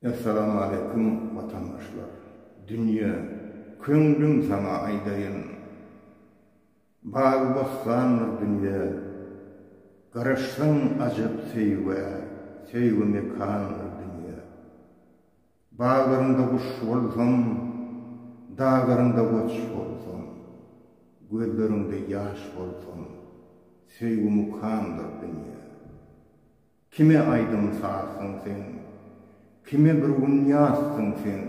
Essalamu Aleýkum watandaşlar! Dünýe, köňlüm saňa aýdaýyn. Bagy-bossandyr dünýe, garaşsaň ajap söýgä, söýgi mekandyr dünýe. Baglaryňda guş bolsam, daglaryňda goç bolsam, gözleriňde ýaş bolsam, söýgi mukamdyr dünýä. Kime aýdym-sazsyň sen, kime bir gün ýazsyň sen,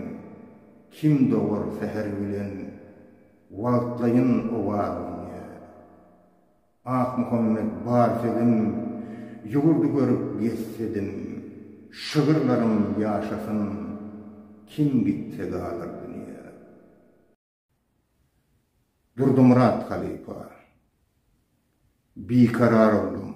kim dogar säher bilen, wagtlaýyn owazyňy. Akmuhammet Barsegiň ýurdy görüp gezsedim, şygyrlarym ýaşasyn, kim gitse galar dünýä. Durdumyrat halypa. Bikarar oldum.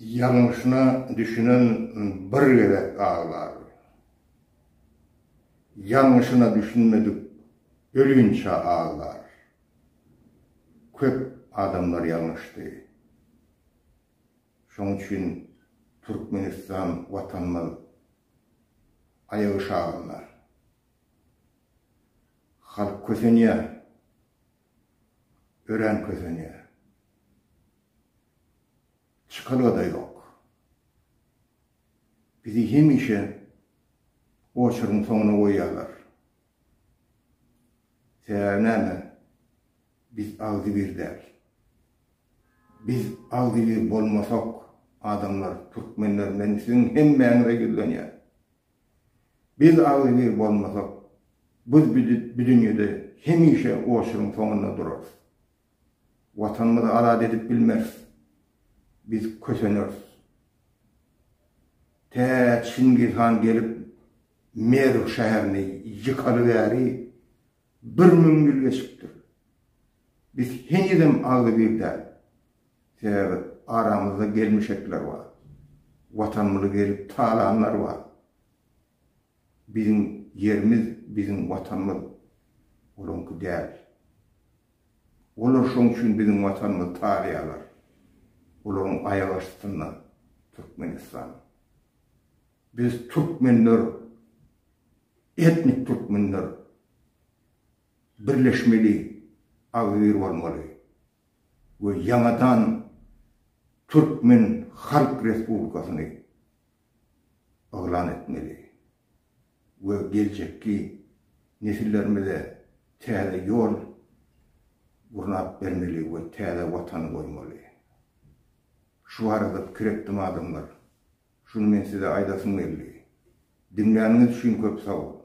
Ýalňyşyna düşünen bir gezek aglar. Ýalňyşyna düşünmedik ölinçä aglar. Köp adamlar ýalňyşdy. Şoň üçin Türkmenistan watanymyz aýagy şagynda. Halk kösenýär. Örän kösenýär. Çykalga-da ýok. Bizi hemişe oçuryň soňuna goýýarlar. Sebäbi näme? Biz agzybir däl. Biz agzybir bolmasak, adamlar, türkmenler, men siziň hemmäňize ýüzlenýän. Biz agzybir bolmasak, biz bu dünýede hemişe oçuryň soňunda durarys. Watanymyzy azat edip bilmeris. Biz köseneris. Tä Çingiz han gelip Merw şäherini ýykaly bäri bir müň ýyl geçipdir. Biz henizem agzybir däl. Sebäbi aramyzda gelmişekler bar. Watanymyzy gelip talanlar bar. Biziň ýerimiz biziň watanymyz olaňky däl. Olar şoň üçin biziň watanymyzy talaýarlar. Olaryň aýak astynda Türkmenistan. Biz türkmenler etnik türkmenler birleşmeli, agzybir bolmaly we ýaňadan türkmen halk respublikasyny yglan etmeli we geljekki nesillerimize täze ýol gurnap bermeli we täze Watany goýmaly. Şu barada pikir etdim adamlar. Şuny men size aýdasym geldi. Diňläniňiz üçin köp sag boluň.